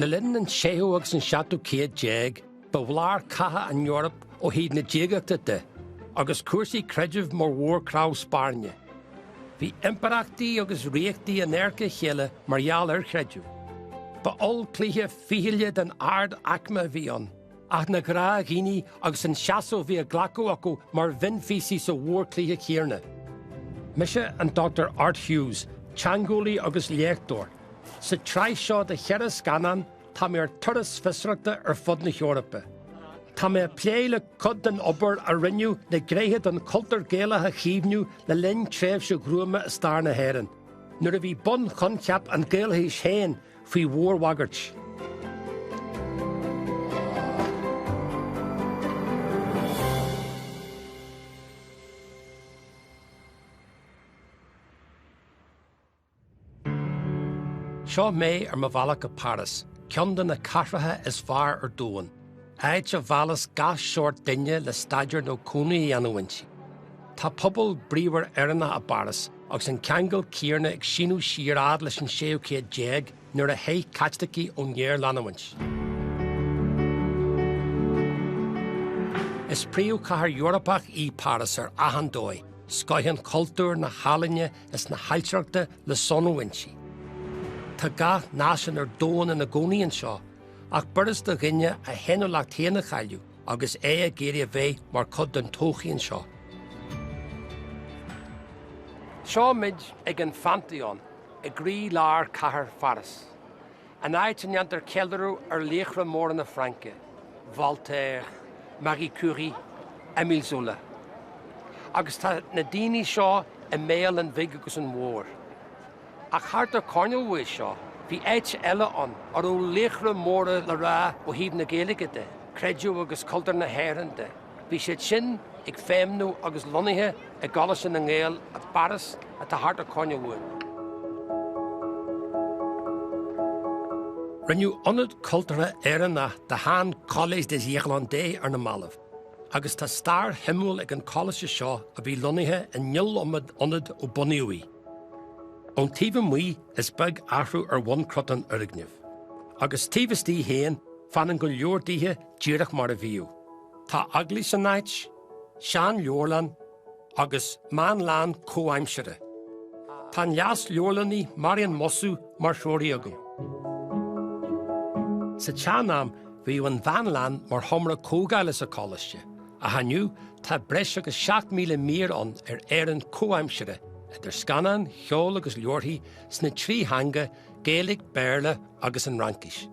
Le linn an séú agus an seachtú céad déag, ba bhlár catha an Eoraip ó thaobh na diagachta de, agus cúrsaí creidimh mar mhórchnámh spairne. Bhí impireachtaí agus ríochtaí in adharca a chéile mar gheall ar chreideamh. Ba ollchluiche fichille den ard-aicme a bhí ann. Ach na gnáthdhaoine agus an seasamh a bhí á ghlacadh acu mar mhionphíosaí sa mhórchluiche chéanna. Mise an Dr Art Hughes, teangeolaí agus léachtóir. Sa tsraith seo de cheithre scannán, tá mé ar turas fiosrachta ar fud na hEorpa. Tá mé ag plé le cuid den obair a rinneadh le gnéithe den chultúr Gaelach a chaomhnú le linn tréimhse ghruama i stair na hÉireann, nuair a bhí bunchoincheap an Ghaelachais féin, faoi mhórbhagairt. Seo mé ar mo bhealach go Páras, ceann de na cathracha is fearr ar domhan. áit a mheallas gach seort duine le staidéar nó cónaí a dhéanamh inti. Tá pobal bríomhar Éireannach i bPáras, agus an ceangal céanna ag síneadh siar fhad leis an séú céad déag nuair a theich Caitlicigh ón ngéarleanúint. Is príomhchathair Eorpach í Páras ar achan dóigh, scoith an chultúir, na healaíne is na hailtireachta le sonrú inti. Tá gach náisiún ar domhan ina gcónaí anseo, Ach b'fhurast do dhuine a fhéiniúlacht féin a chailleadh agus é ag iarraidh a bheith mar chuid den todhchaí anseo. Seo muid ag an Phantheon i gcroí lár chathair Pháras, an áit a ndéantar ceiliúradh ar laochra móra na Fraince, Voltaire, Marie Curie, Emile Zola. Agus tá na daoine seo i mbéal an bhig agus an mhóir. Ach thart an coirnéal uaidh seo bhí áit eile ann a raibh laochra móra le rá ó thaobh na Gaeilge de, creideamh agus cultúr na hÉireann de. Bhí siad sin ag feidhmniú agus lonnaithe i gColáiste na nGael i bPáras atá thart an coirnéal uainn. Rinneadh ionad cultúrtha Éireannach de shean-Collège des Irlandais ar na mallaibh agus tá stair shuimiúil ag an choláiste seo a bhí lonnaithe in iliomad ionad ó bunaíodh í. Ón taobh amuigh is beag athrú ar bhunchruth an fhoirgnimh. Agus taobh istigh féin, fanann go leor dithe díreach mar a bhíodh. Tá eaglais san áit, seanleabharlann agus meánlann comhaimsire. Tá an leasleabharlannaí Marian Mossou mar threoraí agam. Sa tseanam bhíodh an mheánlann mar sheomra comhdhála sa choláiste. Ach inniu tá breis agus 7,000 mír ann ar Éirinn chomhaimseartha, idir scannáin, cheol agus leabharthaí, sna trí theanga, Gaeilge, Béarla agus an Fhraincis.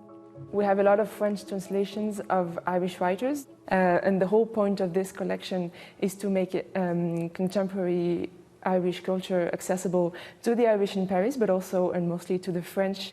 we have a lot of French translations of Irish writers and the whole point of this collection is to make contemporary Irish culture accessible to the Irish in Paris but also and mostly to the French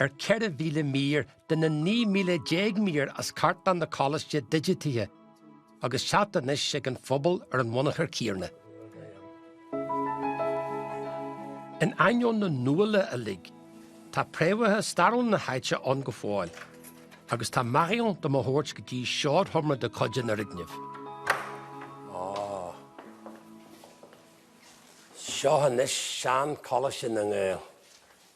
ar 4,000 mír de na 19 míle mír as cartlann an Choláiste digitithe agus teacht anois ag an phobal ar an bhunachar céanna. In ainneoin na nuála uilig, tá préamhacha stairiúla na háite ann go fóill agus tá Marion do mo thabhairt go dtí seoidseomra de chuid an fhoirgnimh. Seo anois sean-Choláiste na nGael.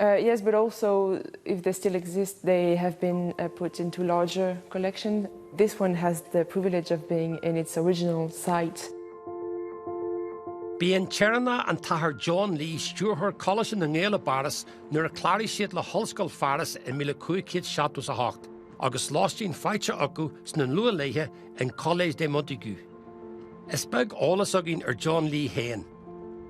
Uh, yes, but also if they still exist, they have been uh, put into larger collection. This one has the privilege of being in its original site. B'é an tÉireannach an tAthair John Lee stiúrthóir Choláiste na nGael i bPáras nuair a chláraigh siad le hOllscoil Pháras i míle cúig chéad seachtó 's a hocht, agus lóistín faighte acu sna luath-laethe in Collège de Montaigu. Is beag eolas againn ar John Lee fhéin.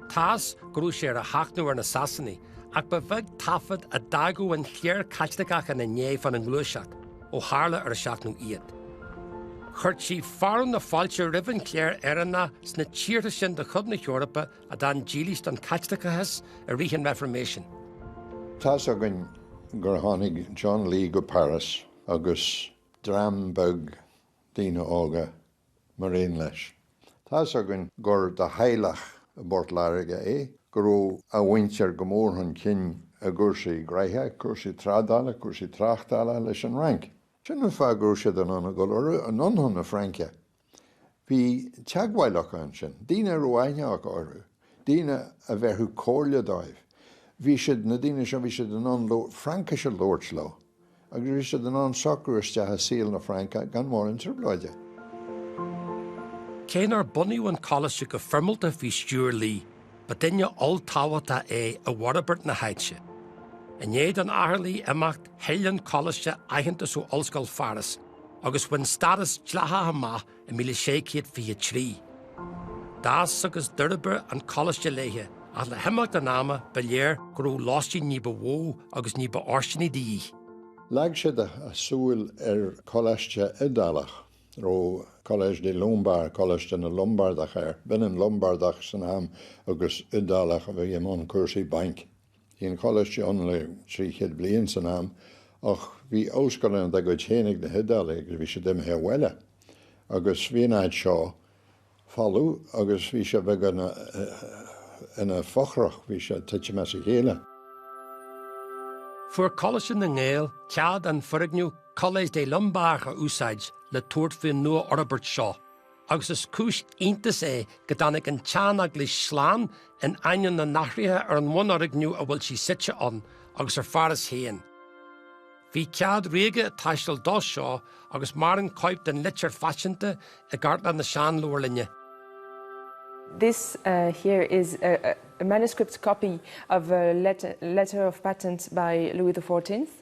Tá's go raibh sé ar a sheachnadh ar na Sasanaigh, ach ba bheag taifead a d'fhágadh an chléir Chaitliceach ina ndiaidh fána ngluaiseacht, ó tharla ar a seachnadh iad. Chuirtí fearadh na fáilte roimh an chléir Éireannach sna tíortha sin de chuid na hEorpa a d'fhan dílis don Chaitliceachas i rith an Reifirméisin. Tá's againn gur tháinig John Lee go Páras agus dream beag daoine óga mar aon leis. Tá's againn gur de theaghlach i bPort Láirge é, go raibh a mhuintir go mór chun cinn i gcúrsaí gnoithe, cúrsaí trádála, cúrsaí tráchtála leis an Fhrainc. Sin an fáth go raibh siad in ann a dhul anonn chun na Fraince. Bhí teagmháil acu ansin, daoine a raibh aithne acu orthu. daoine a bhéarfadh comhairle dóibh. Bhí siad, na daoine seo, bhí siad in ann Fraincis a labhairt leo agus bhí siad in ann socrú isteach i saol na Fraince gan mórán trioblóide. Cé nár bunaíodh an Coláiste go foirmeálta faoi stiúir Lee, ba duine olltábhachtach é i bhforbairt na háite. I ndiaidh don Athair Lee imeacht, thuill an Coláiste aitheantas ó Ollscoil Pháras agus bhain stádas dleathach amach I míle sé céad fiche a trí, d'fhás agus d'fhorbair an Coláiste leis, ach le himeacht an ama ba léir go raibh lóistín ní ba mhó agus ní b'fhóirsteanaí de dhíth. Leag siad a súil ar choláiste Iodálach, a raibh Collège des Lombards, Coláiste na Lombardach, air. B'ionann Lombardach san am agus Iodálach a bhí i mbun cúrsaí bainc. Bhí an Coláiste ann le trí chéad bliain san am ach bhí ollscoileanna dá gcuid féin ag na hIodálaigh agus bhí siad imithe abhaile agus bhí an áit seo folamh agus bhí sé beagnach ina fothrach, bhí sé ag titim as a chéile. Fuair Coláiste na nGael cead an foirgneamh Collège des Lombards a úsáid le tabhairt faoin nua-fhorbairt seo. agus is cúis iontais é go dtáinig an tseaneaglais slán in ainneoin na n-athruithe ar an mbunfhoirgneamh a bhfuil sí suite ann, agus ar Pháras féin. Bhí cead ríoga ag teastáil dó seo, agus maireann cóip den litir phaiteanta i gcartlann na Sean-Leabharlainne. This here is a manuscript copy of a letter of patent by Louis the Fourteenth.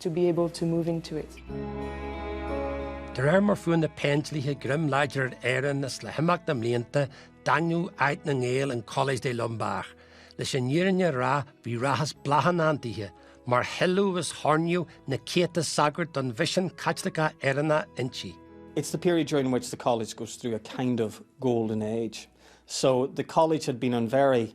to be able to move into it. De réir mar fuair na Péindlíthe greim láidir ar Éirinn is le himeacht na mblianta daingníodh áit na nGael in Collège des Lombards. Leis an fhírinne a rá bhí rath is bláth i ndán dithe, mar hoileadh is hoirníodh na céadta sagart don mhisean Caitliceach Éireannach inti. It's the period during which the College goes through a kind of golden age. So the College had been on very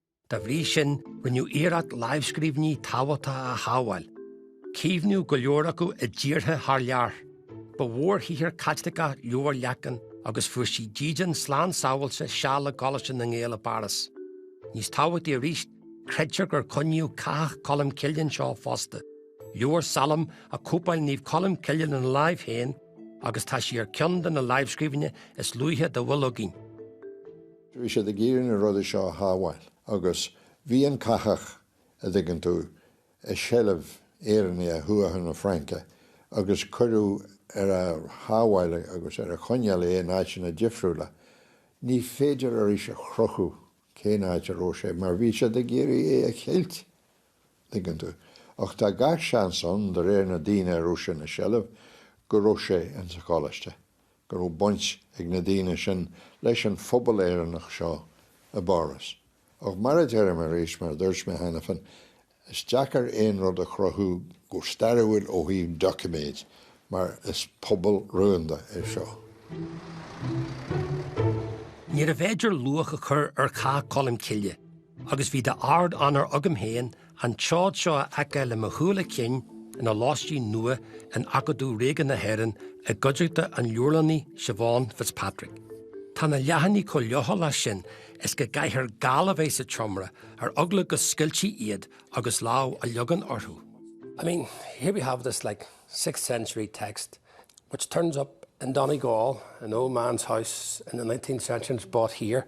Dá bhrí sin, rinneadh iarracht lámhscríbhinní tábhachtacha a shábháil. Caomhnaíodh go leor acu i dtíortha thar lear. Ba mhórshaothar Caitliceach Leabhar Leacáin agus fuair sí dídean slán sábháilte seal i gColáiste na nGael i bPáras. Níos tábhachtaí arís, creidtear gur coinníodh Cathach Cholm Cille anseo fosta. Leabhar Salm a chóipeáil Naomh Colm Cille lena láimh féin agus tá sí ar cheann de na lámhscríbhinní is luaithe dá bhfuil againn. Bhí siad ag iarraidh na rudaí seo a shábháil agus bhí an Cathach, a' dtuigeann tú, i seilbh Éireannaigh Thuatha na Fraince agus cuireadh ar a shábháil agus ar a choinneáil é in áiteanna difriúla. Ní féidir arís a chruthú cén áit a raibh sé mar bhí siad ag iarraidh é a cheilt, dtuigeann tú. Ach tá gach seans ann, de réir na daoine a raibh sé ina seilbh, go raibh sé ins an choláiste. go raibh baint ag na daoine sin leis an phobal Éireannach seo i bPáras. Ach mar a deirim arís, mar a dúirt mé cheana féin, is deacair aon rud a chruthú go stairiúil ó thaobh doiciméad mar is pobal rúnda é seo. Níorbh fhéidir luach a chur ar Chathach Cholm Cille agus bhí d'ardonóir agam féin an tseod seo a fheiceáil le mo shúile cinn ina lóistín nua in Acadamh Ríoga na hÉireann i gcuideachta an Leabharlannaí Siobhán Fitzpatrick. Tá na leathanaigh chomh leochaileach sin is go gcaithfear gal a bheith sa tseomra ar eagla go scoiltfí iad agus lámh a leagan orthu. I mean, here we have this like sixth century text which turns up in Donegal, an old man's house in the nineteenth century and it's brought here.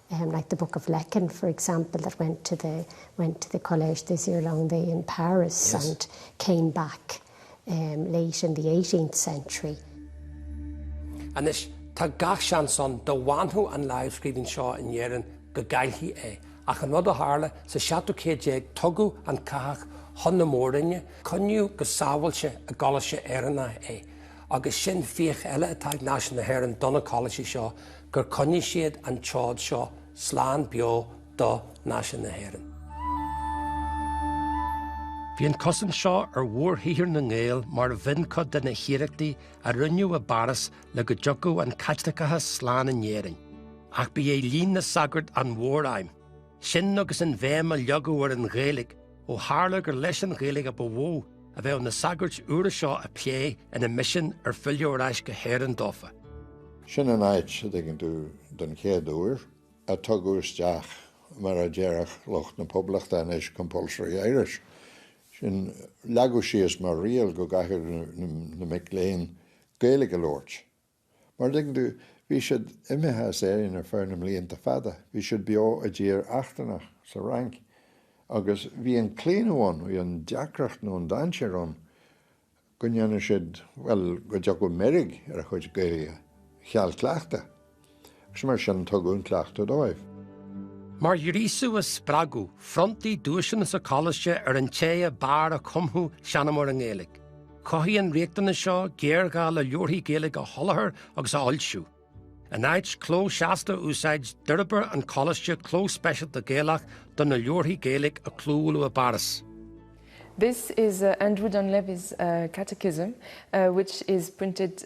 Um, like the Book of Lecan, for example, that went to the, went to the Collège des Irlandais in Paris. Yes. And came back, um, late in the eighteenth century. Anois, tá gach seans ann dá bhfanfadh an láimhscríbhinn seo in Éirinn go gcaillfí é. Ach an rud a tharla, sa seachtú céad déag tugadh an Cathach chun na mór-roinne, coinníodh go sábháilte i gColáiste Éireannach é, agus sin fiach eile atá ag náisiún na hÉireann do na Coláistí seo, gur coinnigh siad an tseod seo slán beo do Náisiún na hÉireann. Bhí an cosaint seo ar mhórshaothar na nGael mar mhion-chuid de na hiarrachtaí a rinneadh i bPáras le go dtiocfadh an Caitliceachas slán in Éirinn. Ach ba í oiliúint na sagart an mhór-aidhm. Sin agus an bhéim a leagadh ar an Ghaeilge, ó tharla gur leis an Ghaeilge ba mhó a bheadh na sagairt úra seo ag plé ina misean ar filleadh ar ais go hÉirinn dófa. Sin an áit, an dtuigeann tú, don chéad uair, a tugadh isteach, mar a déarfadh lucht na Poblachta anois, Compulsory Irish. Sin, leagadh síos mar riail go gcaithfeadh na mic léinn Gaeilge a labhairt. Mar, an dtuigeann tú, bhí siad imithe as Éirinn ar feadh na mblianta fada, bhí siad beo i dtír eachtrannach, sa Fhrainc, agus bhí an claonadh ann, bhí an deacracht nó an dainséar ann go ndéanfadh siad, bhuel, go dtiocfadh meirg ar a chuid Gaeilge, cheal cleachtaidh. Is mar sin tugadh an cleachtadh dóibh. Mar ghríosadh is spreagadh, phronntaí duaiseanna sa Coláiste ar an té a b'fhearr a chumfadh seanamóir i nGaeilge. Chothaigh an riachtanas seo géarghá le leabharthaí Gaeilge a sholáthar agus a fhoilsiú. In áit cló seasta a úsáid, d'fhorbair an Coláiste cló speisialta Gaelach do na leabharthaí Gaeilge a clóbhuaileadh i bPáras. This is Andrew Donlevy's Catechism, which is printed.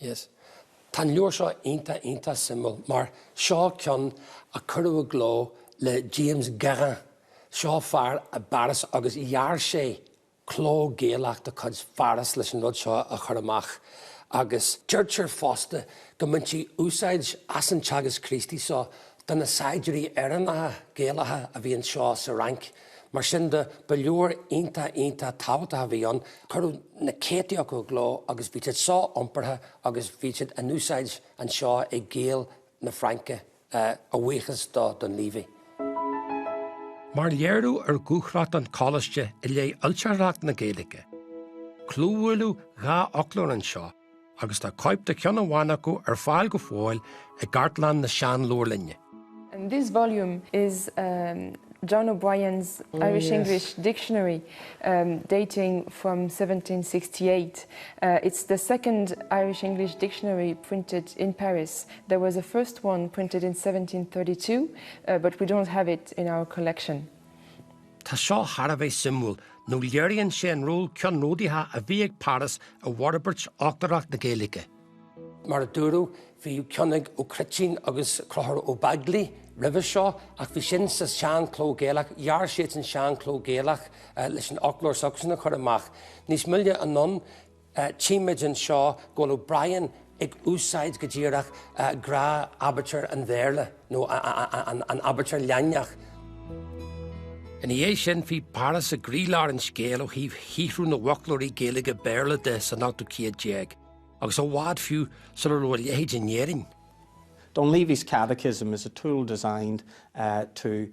Yes. Tá an leabhar seo iontach iontach suimiúil mar seo ceann a cuireadh i gcló le James Guérin. Seo fear i bPáras agus dhear sé cló Gaelach de chuid Pháras leis an rud seo a chur amach agus deirtear fosta go mbaintí úsáid as an Teagasc Críostaí seo do na saighdiúirí Éireannacha, Gaelacha a bhí anseo sa Fhrainc. Mar sin de, ba leabhar iontach, iontach tábhachtach a bhí ann. Cuireadh na céadtaí acu i gcló agus bhí siad so-iompartha agus bhí siad in úsáid anseo ag Gaeil na Fraince, a bhuíochas do Donlevy. Mar léiriú ar dhúthracht an Choláiste i leith fhoilsitheoireacht na Gaeilge, clóbhuaileadh dhá fhoclóir anseo, agus tá cóip de cheann amháin acu ar fáil go fóill i gCartlann na Sean-Leabharlainne. And this volume is John O'Brien's Irish-English dictionary dating from 1768. It's the second Irish-English dictionary printed in Paris. There was a first one printed in 1732 but we don't have it in our collection. Tá seo thar a bheith suimiúil nó léiríonn sé an ról ceannródaíoch a bhí ag Páras i bhforbairt fhoclóireacht na Gaeilge. Mar a dúradh, bhí ceann ag Ó Cruitín agus Conchúr Ó Beaglaoich roimhe seo ach bhí sin sa tSean-Chló Gaelach. Dhear siadsan Sean-Chló Gaelach leis an fhoclóir s'acusan a chur amach níos moille anonn. Tchímid anseo go bhfuil O'Brien ag úsáid go díreach, abair, aibítir an Bhéarla, nó an aibítir Laidineach. Ina dhiaidh sin, bhí Páras i gcroílár an scéil ó thaobh shaothrú na bhfoclóirí Gaeilge-Béarla de san ochtú céad déag agus i bhfad fiú sula raibh a leithéid in Éirinn. Donleavy's Catechism is a tool designed to.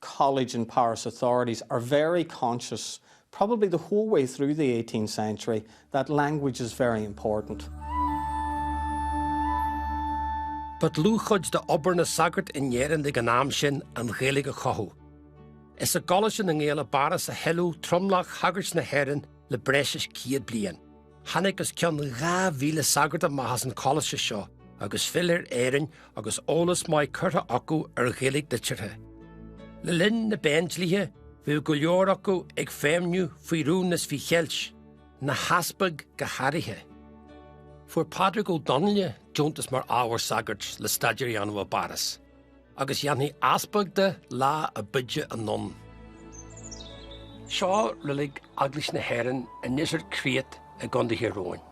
College and Paris authorities are very conscious, probably the whole way through the eighteenth century, that language is very important. Ba dlúthchuid d'obair na sagart in Éirinn ag an am sin an Ghaeilge a chothú. Is i gColáiste na nGael i bPáras a hoileadh tromlach shagairt na hÉireann le breis is céad bliain. Tháinig os cionn 2,000 sagart amach as an Choláiste seo agus d'fhill ar Éirinn agus eolas maith curtha acu ar Ghaeilge liteartha. Le linn na bPéindlíthe bhíodh go leor acu ag feidhmniú faoi rún is faoi cheilt, na heaspaig go háirithe. Fuair Pádraig Ó Donnaile deontas mar ábhar sagairt le staidéar a dhéanamh i bPáras. agus dhéanfaí easpag de lá a b'fhaide anonn. Seo reilig Eaglais na hÉireann i nDíseart Créacht i gContae Thír Eoghain.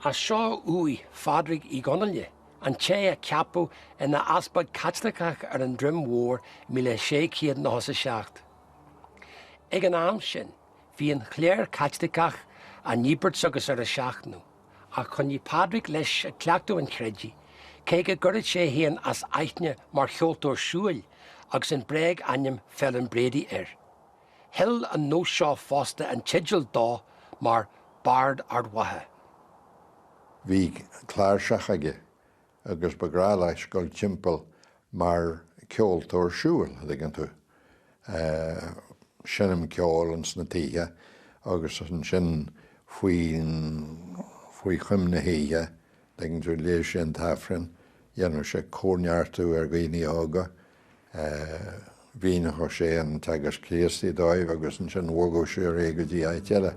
Is seo uaigh Phádraig Uí Dhonnaile, an té a ceapadh ina easpag Caitliceach ar an Droim Mhór i 1697. Ag an am sin, bhí an chléir Chaitliceach á ndíbirt agus ar a seachnadh. Ach choinnigh Pádraig leis ag cleachtadh an chreidimh, cé go gcuireadh sé é féin as aithne mar cheoltóir siúil agus an bréag-ainm Phelim Brady air. Thuill an nós seo fosta an teideal dó mar Bard Ard Mhacha. Bhí cláirseach aige agus ba bhreá leis dul timpeall mar ceoltóir siúil, a dtuigeann tú, ag seinm ceoil ins na tithe agus ansin faoi choim na hoíche, tuigeann tú, léadh sé an tAifreann, dhéanfadh sé comhneartú ar dhaoine óga, Mhíneodh sé an Teagasc Críostaí dóibh agus ansin bhogadh sé ar aghaidh go dtí áit eile.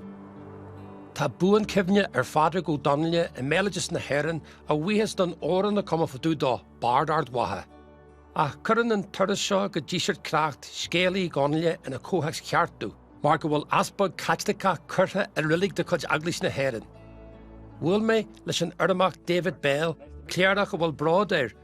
Tá buan-chuimhne ar Phádraig Ó Donnaile i mbéaloideas na hÉireann a bhuíochas don amhrán a cumadh fá dtaobh dó, 'Bard Ard Mhacha'. Ach cuireann an turas seo go Díseart Créacht scéal Uí Dhonnaile ina chomhthéacs cheart domh, mar go bhfuil Easpag Caitliceach curtha i reilig de chuid Eaglais na hÉireann. Bhuail mé leis an Urramach David Bell, cléireach a bhfuil bród air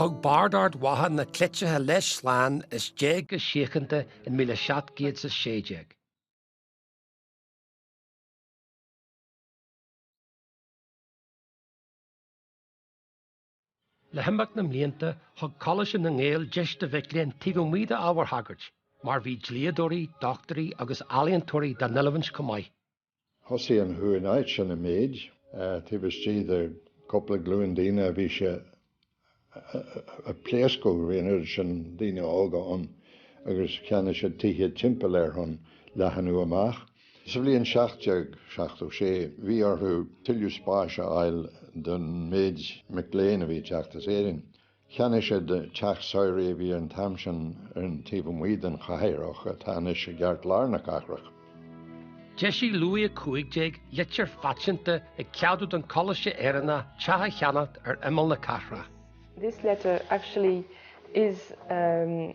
Thug Bard Ard Mhacha na cleití leis slán is d'éag go síochanta in míle seacht gcéad 's a sé déag. Le himeacht na mblianta, thug Coláiste na nGael deis do mhic léinn taobh amuigh d'ábhair shagairt, mar bhí dlíodóirí, dochtúirí agus ealaíontóirí dá n-oiliúint chomh maith. Thosaigh an chomhnáit sin i méid. Taobh istigh de cúpla glúin daoine bhí sé a' pléascadh. Bhí an oiread sin daoine óga ann agus cheannaigh siad tithe timpeall air chun leathnú amach. Sa bhliain 1776 bhí orthu tuilleadh spáis a fháil don méid mic léinn a bhí ag teacht as Éirinn. Cheannaigh siad teach samhraidh a bhí an t-am sin ar an taobh amuigh den chathair ach atá anois i gceartlár na cathrach. D'eisigh Louis 15 litir phaiteanta ag ceadú don Choláiste Éireannach teach a cheannacht ar imeall na cathrach. This letter actually is a.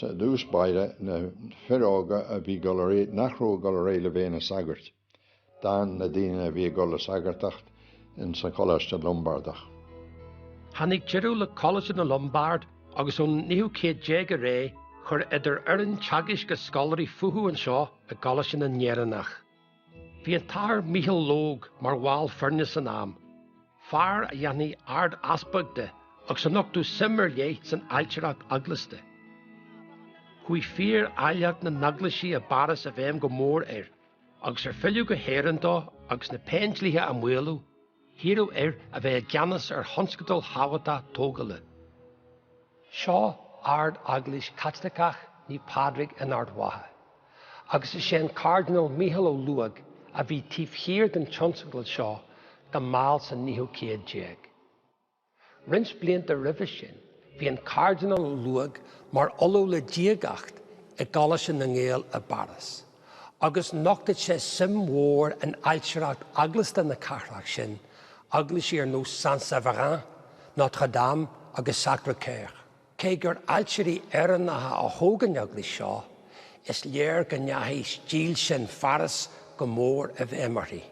Sa dtús báire, na fir óga a bhí, nach raibh ag dul ar aghaidh le bheith ina sagairt. D'fhan na daoine a bhí ag dul le sagartacht in sa Coláiste Lombardach. Tháinig deireadh le Coláiste na Lombard agus ón naoú céad déag ar aghaidh, chuir idir fhoireann teagaisc is scoláirí fúthu anseo i gColáiste na nÉireannach. Bhí an tAthair Micheal Logue mar bhall foirne san am, fear a dhéanfaí Ard-Easpag de agus a nochtadh suim ar leith san ailtireacht eaglasta. Chuaigh fíor áilleacht na n-eaglaisí i bPáras i bhfeidhm go mór air agus ar filleadh go hÉirinn dó agus na Péindlíthe á maolú, hiarradh air a bheith i gceannas ar thionscadal thábhachtach tógála. Seo Ard Eaglais Chaitliceach Naomh Pádraig in Ard Mhacha agus is é an Cairdinéal Micheál Ó Laoghóg a bhí taobh thiar den tionscadal seo go mall sa naoú céad déag. Roinnt blianta roimhe sin bhí an Cairdinéal Ó Laoghóg mar Ollamh le Diagacht i gColáiste na nGael i bPáras, agus nochtadh sé suim mhór in ailtireacht eaglasta na cathrach sin, eaglaisí ar nós Saint-Séverin, Notre Dame agus Sacre Coeur. Cé gur ailtirí Éireannacha a thóg an eaglais seo, is léir go ndeachaigh stíl sin Pháras go mór i bhfeidhm uirthi.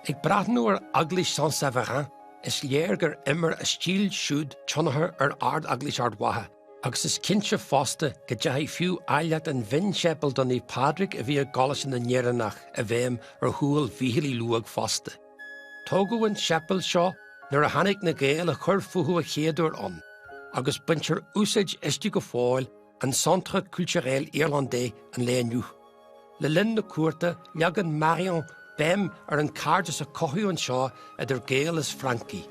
Ag breathnú ar Eaglais Saint-Séverin, is léir gur imir a stíl siúd tionchar ar Ard-Eaglais Ard Mhacha, agus is cinnte fosta go ndeachaigh fiú áilleacht an mhionséipéil do Naomh Pádraig a bhí i gColáiste na nÉireannach i bhfeidhm ar shúil Mhíchíl Uí Laoghóg fosta. Tógadh an séipéal seo nuair a tháinig na Gaeil a chur fúthu an chéad uair ann, agus baintear úsáid as go fóill in Centre Culturel Irlandais an lae inniu. Le linn na cuarta leagann Marion béim ar an cairdeas a cothaíodh anseo idir Gaeil is Francaigh.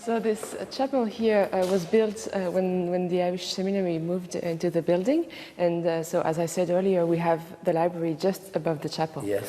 So this chapel here was built when when the Irish Seminary moved into the building and so as I said earlier we have the library just above the chapel. Yes.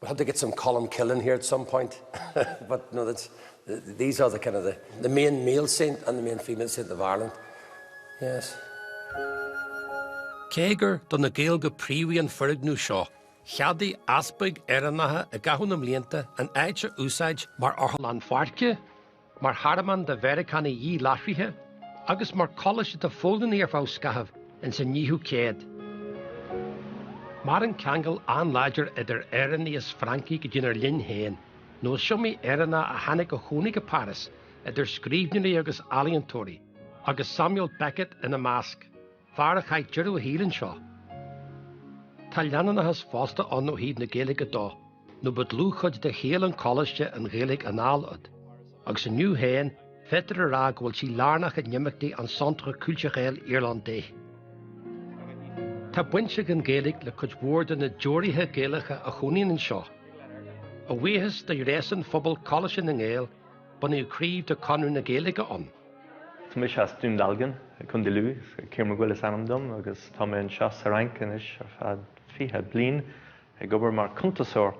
We'll have to get some Colm Cill in here at some point but no that's these are the kind of the the main male saint and the main female saint of Ireland. Yes. Cé gur do na Gaeil go príomha an foirgneamh seo, cheadaigh easpaig Éireannacha i gcaitheamh na mblianta an áit a úsáid mar otharlann pháirce, mar thearmann do Mheiriceánaigh díláithrithe agus mar coláiste do Pholannaigh ar feadh scathaimh insan fhichiú céad. Maireann ceangal an-láidir idir Éireannaigh is Francaigh go dtínár linn féin, nó is iomaí Éireannach a tháinig a chónaigh i bPáras, idir scríbhneoirí agus ealaíontóirí, agus Samuel Beckett ina measc. Fear a chaith deireadh a shaoil anseo. Tá leanúnachas fosta ann ó thaobh na Gaeilge dó, nó ba dlúthchuid de shaol an Choláiste an Ghaeilge anallód, agus inniu féin féadtar a rá go bhfuil sí lárnach in imeachtaí an Centre Culturel Irlandais. Tá baint ag an Ghaeilge le cuid mhór de na deoraithe Gaelacha a chónaíonn anseo. A bhuíochas sin do ghréasán phobal Choláiste na nGael, Bunaíodh craobh de Chonradh na Gaeilge ann. Tá mise as Dún Dealgan i gContae Lú. Ciarán Mac Guill is ainm dom agus tá mé anseo sa Fhrainc anois ar feadh fiche bliain ag obair mar cuntasóir.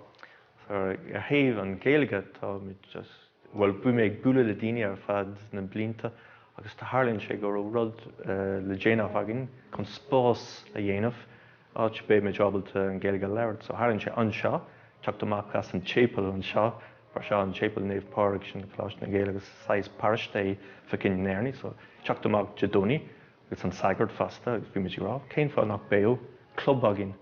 Ar thaobh an Ghaeilge tá muid just, bhuel bhí mé ag bualadh le daoine ar feadh na blianta agus tharlaíonn sé go raibh rud le déanamh againn chun spás a dhéanamh, áit a mbeidh muid ábalta an Ghaeilge a labhairt. So tharlaíonn sé anseo, teacht amach as an tséipéal anseo. mar seo, an Séipéal Naomh Pádraig, sin Coláiste na nGael agus saghas paróiste faoi choinne Éireannaigh, so teacht amach Dé Domhnaigh agus an sagart fosta agus bhí muid ag rá cén fáth nach beadh club againn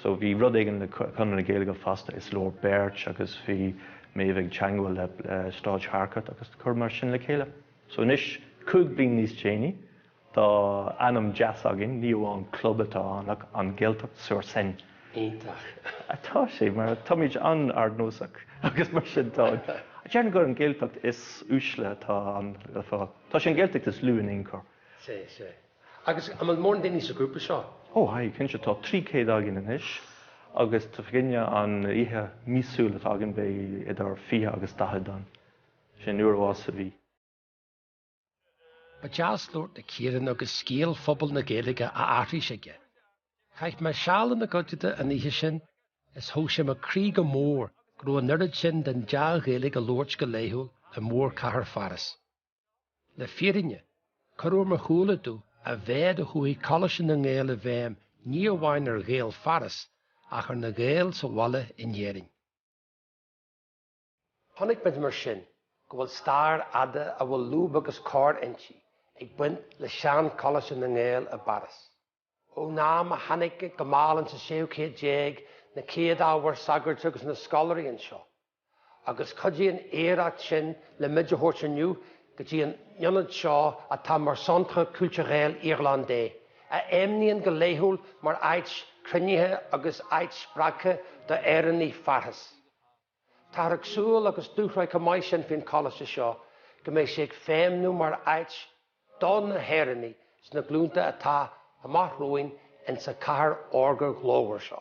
so bhí rud éigin le Conradh na Gaeilge fosta, is leor beirt agus bhí Méabh ag teagmháil le Sráid Harcourt agus cur mar sin le chéile. So anois, cúig bliain níos déanaí, Tá ainm deas againn, ní amháin club atá ann ach An Gaeltacht sur Seine. Iontach. Tá sé, mar táimid an-ardnósach agus mar sin tá an, déarfainn gur an Gaeltacht is uaisle atá ann le fáil. Tá sé an Gaeltacht is lú in aon chor. Sea, sea. Agus an bhfuil mórán daoine sa ghrúpa seo? Ó, aye, cinnte, tá trí céad againn anois agus tá againne an oíche míosúil atá againn beidh idir fiche agus daichead ann. Sin uair amháin sa mhí. Ba dheas labhairt le Ciaran agus scéal phobal na Gaeilge á aithris aige. Chaith mé seal ina gcuideachta an oíche sin is thóg sé mo chroí go mór go raibh an oiread sin den dea-Ghaeilge á labhairt go laethúil i mórchathair Pháras. Le fírinne, chuir ar mo shúile domh a mhéad a chuaigh Coláiste na nGael i bhfeidhm ní amháin ar Ghaeil Pháras ach ar na Gaeil sa bhaile in Éirinn. Chonaic muid mar sin go bhfuil stair fhada a bhfuil lúb agus cor inti ag baint le Seancholáiste na nGael i bPáras. Ón am a tháinig go mall insan séú céad déag na chéad ábhair sagairt agus na scoláirí anseo, agus chuidigh an oidhreacht sin le muid a thabhairt inniu go dtí an ionad seo atá mar Centre Culturel Irlandais, a fheidhmníonn go laethúil mar áit chruinnithe agus áit spreagtha do Éireannaigh Pháras. Táthar ag súil agus dúshraith chomh maith sin faoin Choláiste seo go mbeidh sé ag feidhmniú mar áit do na hÉireannaigh sna glúnta atá amach romhainn insa cathair órga ghlórmhar seo.